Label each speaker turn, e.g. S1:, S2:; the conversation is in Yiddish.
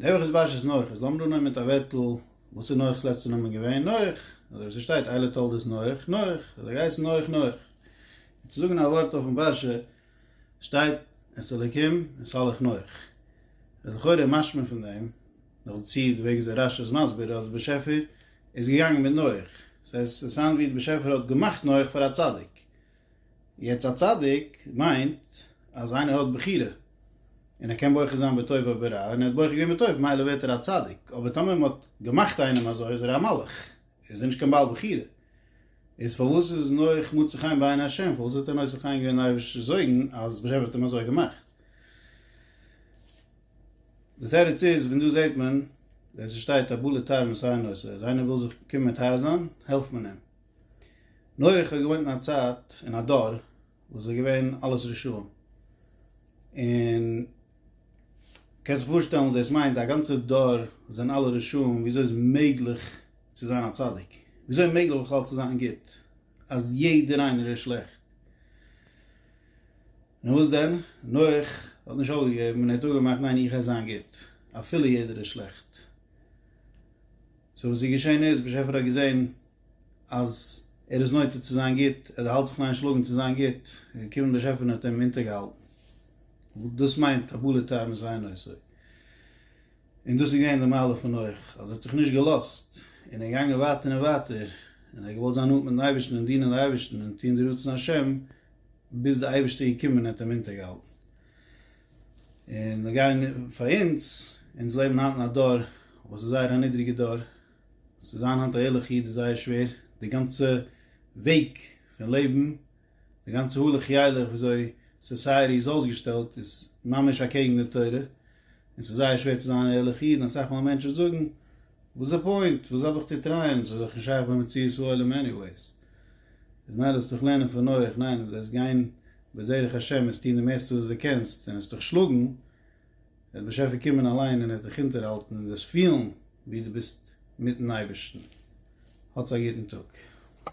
S1: נעבעך איז באשעס נח, איז לאמיר אננעמען טאוועטל, וואס איז נח'ס לעצטע נאמען געווען? נח, אזוי ווי ס'שטייט אלע תולדות נח, נח, האט ער געהייסן נח נח. און צו זאגן א ווארט אויפן באשע שטייט את אלקים אסלך נח. איז לכאורה איז משמע פון דעם, נאך דערצו די וועג וויאזוי רשי איז מסביר אז די באשעפער איז געגאנגען מיט נח, ס'הייסט ס'איז סאונד ווי די באשעפער האט געמאכט נח פאר א צדיק. יעצט א צדיק מיינט אז איינער האט בחירה און ער קען בוחר זיין בטוב או ברע און ער האט בוחר געווען בטוב מילא ווערט ער א צדיק אבער טאמער מען האט געמאכט איינעם אזוי איז ער א מלאך איז ער נישט קיין בעל בחירה איז פארוואס איז נח מוצא חן בעיני ה' פארוואס האט ער נושא חן געווען די אייבערשטער זויגן אז ב ה האט אים אזוי געמאכט די תירוץ איז ווען דא זעט מען ווען ס'שטייט א בלע ת מסייע נושא אז איינער וויל זיך קומען מיט הייזען העלפט מען אים. נח האט געוואוינט אין א צייט, אין א דור, וואס איז געווען אלעס רשעים, און קענסט זיך פארשטעלן וואס דאס מיינט, א גאנצע דור זענען אלע רשעים, וויאזוי איז מעגליך צו זיין א צדיק? וויאזוי איז מעגליך בכלל צו זיין גוט, אז יעדער איינער איז שלעכט? און וואס דען? נח האט נישט אויפגעגעבן און ער האט אפגעמאכט ניין איך עס זיין גוט אפילו יעדער איז שלעכט. סאו וואס איז געשען איז באשעפער האט געזען אז ער איז נוטה צו זיין גוט ער האלט זיך ניין שלאגן צו זיין גוט איז געקומען באשעפער און האט אים אונטערגעהאלטן וואס דאס מיינט הבלי טעם איז אינו עושה און דאס איז געווען די מעלה פון נח אז ער האט זיך נישט געלאזט און ער איז געגאנגען ווייטער און ווייטער און ער האט געוואלט זיין נאנט מיטן אייבערשטן און דינען די אייבערשטן און טון די רצון השם ביז די אייבערשטער איז געקומען און האט אים אונטערגעהאלטן, און מיר גייען פאר אונז, אונז לעבן היינט אין א דור וואס איז זייער א נידריגע דור, צו זיין היינט א ערליכע איד איז זייער שווער, די גאנצע וועג פון לעבן, די גאנצע הלוך ילך ווי אזוי סאסייעטי איז אויסגעשטעלט איז ממש אקעגן די תורה, און ס'איז זייער שווער צו זיין א ערליכע איד, און אסאך מאל מענטשן זאגן, וואס איז די פוינט? וואס האב איך צו טרייען? ס'איז דאך נישט שייך ביי מציאות העולם עניוועיס. איז מיילעך זאלסט דיך לערנען פון נח, ניין ווען זאלסט גיין בדרך השם און עס טון די מערסטע וואס די קענסט און עס דיך שלאגן, וועט באשעפער קומען אליין און ער וועט דיך אונטערהאלטן און דאס פילן ווי די ביסט מיטן אייבערשטן. האטס א גוטן טאג.